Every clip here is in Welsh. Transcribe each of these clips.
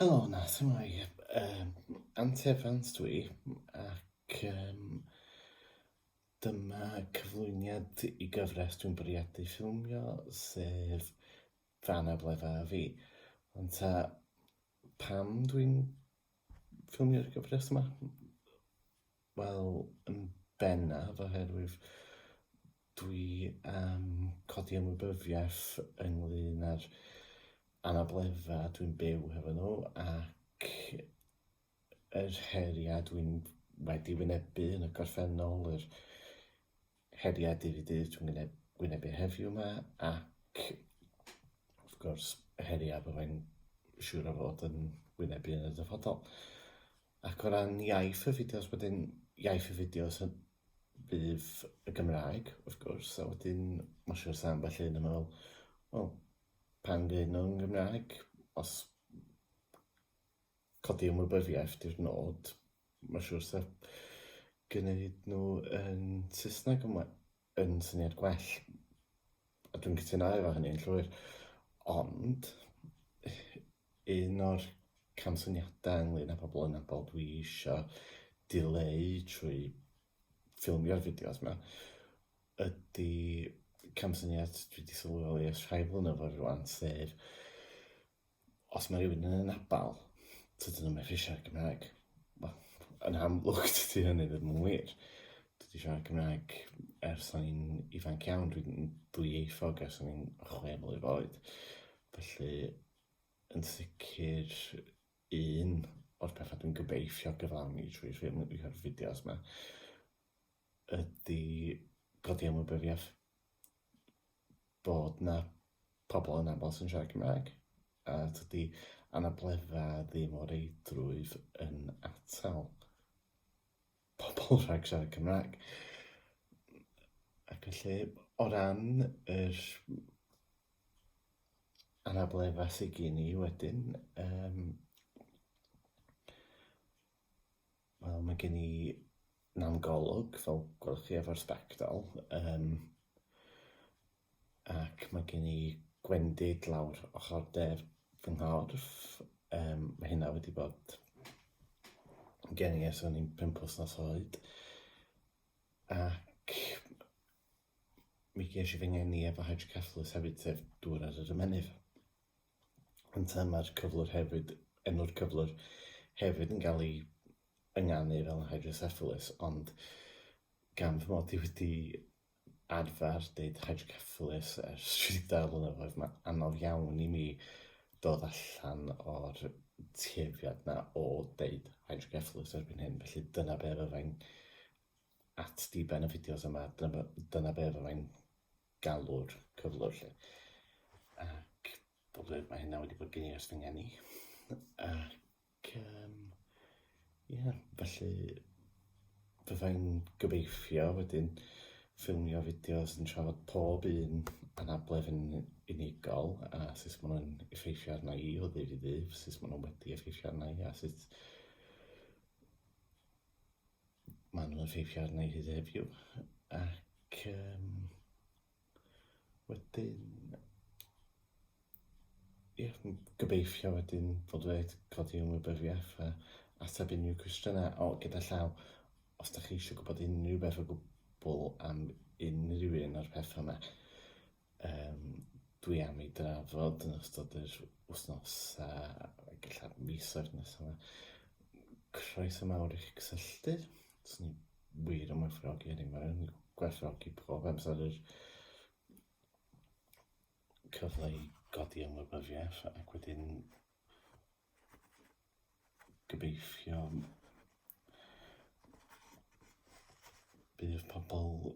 Helo yna, symai, yym, Ant Evans dw i, ac yym, dyma cyflwyniad i gyfres dwi'n bwriadu ffilmio, sef Fy Anabl Ef a Fi. Wan ta, pam dwi'n ffilmio'r gyfres yma? Wel, yn bennaf oherwydd dwi am codi ymwybyddiaeth ynglyn â'r anableddau dwi'n byw hefo nhw ac yr heriau dwi'n wedi wynebu yn y gorffennol, yr Heriau dydd i dydd dwi'n gwyneb, gwynebu heddiw yma ac wrth gwrs heriau byddai'n siŵr o fod yn gwynebu yn y dyfodol. Ac o ran iaith y fideos wedyn, iaith y fideos yn bydd y Gymraeg, wrth gwrs, a wedyn mae'n siŵr sa'n ambell un yn meddwl, wel, pan fydd nhw'n Gymraeg, os codi ymwybyddiaeth 'di'r nod. Mae'n siŵr 'sa gwneud nhw yn Saesneg yn we- yn syniad gwell, a dwi'n cytuno efo hynny yn llwyr. Ond, un o'r camsyniadau ynglŷn â pobl anabl dwi isio dileu trwy ffilmio'r fideos 'ma ydy camsyniad dwi 'di sylweddoli ers rhai blynyddoedd rŵan, sef Os mae rhywun yn yn abal, tydyn nhw'n methu siarad Cymraeg. Wel, yn amlwg dydy hynny ddim yn wir. Dwi 'di siarad Cymraeg ers o'n i'n ifanc iawn, dwi'n ddwyieithog ers o'n i'n chwe mlwydd oed. Felly, yn sicr, un o'r pethau dwi'n gobeithio gyflawni trwy ffilmio'r fideos 'ma ydy codi ymwybyddiaeth bod na pobl yn aml sy'n siarad Cymraeg, a tydi anabledda ddim o reidrwydd yn atal pobl rhag siarad Cymraeg. Ac felly, o ran yr anabledda sydd gen i wedyn, um, Wel mae gen i nam golwg fel gwelwch chi efo'r sbectol um, ac mae gen i gwendid lawr ochr der fy nghorff. Um, mae hynna wedi bod gen i ers o'n i'n pimp wythnos oed ac mi ges i fy ngeni efo hydrocephalus hefyd sef dŵr ar yr ymennydd. Yn ta mae'r cyflwr hefyd, enw'r cyflwr hefyd yn cael ei ynganu fel hydrocephalus, ond gan fy mod i wedi arfer deud hydrocephalus ers 30 blynyddoedd, mae'n anodd iawn i mi dod allan o'r tueddiad na o deud hydrocephalus erbyn hyn, felly dyna be fyddai'n at diben y fideos yma, dyna, dyna be fyddai'n galw'r cyflwr 'lly. Ac bod e, mae hynna wedi bod gen i ers fy ngeni. Ac um, yeah, felly byddai'n gobeithio wedyn ffilmio fideos yn trafod pob un anabledd yn unigol a sut maen nhw'n effeithio arna i o ddydd i ddydd, sut maen nhw wedi effeithio arna i a sut Maen nhw'n effeithio arna i hyd heddiw ac um, wedyn ie, gobeithio wedyn fod wedi codi ymwybyddiaeth a ateb unrhyw cwestiynau o gyda llaw os da chi eisiau gwybod unrhyw beth o gwbl am unrhyw un o'r pethau yma. um, dwi am ei drafod yn ystod yr wythnos a gallaf misoedd nes yma. Croeso mawr i'ch cysylltu. Swn ni wir yn gwerthfawrogi hynny. Mae'n gwerthfawrogi pob amser yr cyfle i godi ymwybyddiaeth ac wedyn gobeithio bydd pobl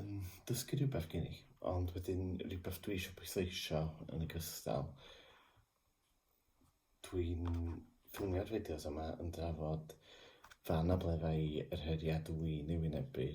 yn dysgu rhywbeth gen i, ond wedyn rhywbeth dwi eisiau pwysleisio yn y gystal, dwi'n ffilmio'r fideos yma yn drafod fy anableddau yr heriau dw i'n eu wynebu,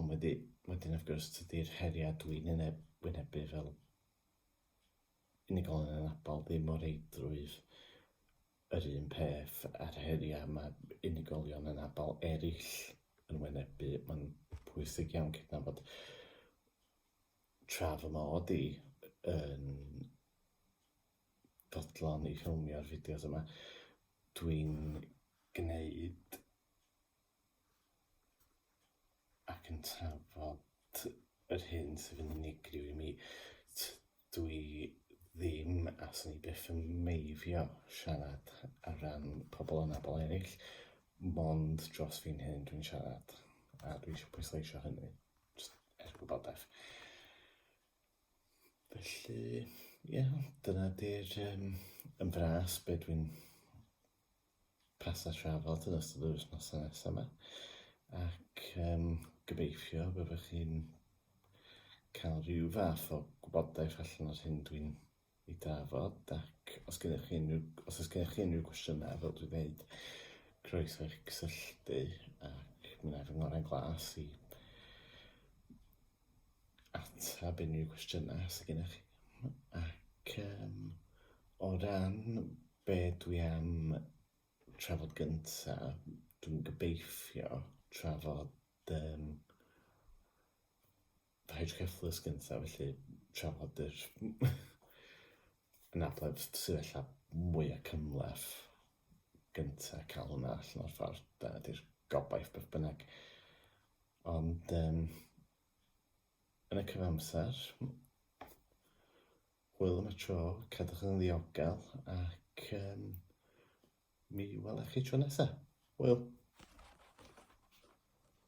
ond wedi, wedyn wrth gwrs tydi'r heriau dwi'n eu wynebu fel unigolyn anabl ddim o reidrwydd yr un peth a'r heriau mae unigolion anabl eraill yn wynebu. Mae'n bwysig iawn cydnabod tra fy mod i yn fodlon i ffilmio'r fideos yma, dwi'n gwneud ac yn trafod yr hyn sydd yn unigryw i mi. Dw i ddim, a 'swn i byth yn meifio siarad ar ran pobl anabl eraill, mond dros fi'n hun dwi'n siarad, a dwi eisiau pwysleisio hynny, jyst er gwybodaeth. Felly, ie, dyna 'di'r yym... Yn fras, be dwi'n pasio trafod yn ystod yr wythnosau nesaf yma ac um, gobeithio byddwch chi'n cael rhyw fath o gwybodaeth allan o'r hyn dwi'n ei drafod ac os gennych chi unrhyw, os oes gennych chi unrhyw gwestiynau fel dwi'n dweud croeso eich cysylltu ac mi wna i fy ngorau glas i ateb unrhyw gwestiynau sydd gennych chi ac um, o ran Be dwi am trafod gynta, dwi'n gobeithio trafod yym fy hydreflux gynta, felly trafod yr anabledd sydd ella mwya cymhleth gynta, cael hwnna allan o'r ffordd, dyna di'r gobaith beth bynnag. Ond yym yn y cyfamser, Hwyl am y tro, cadwch yn ddiogel ac um, mi welech chi tro nesaf. Hwyl!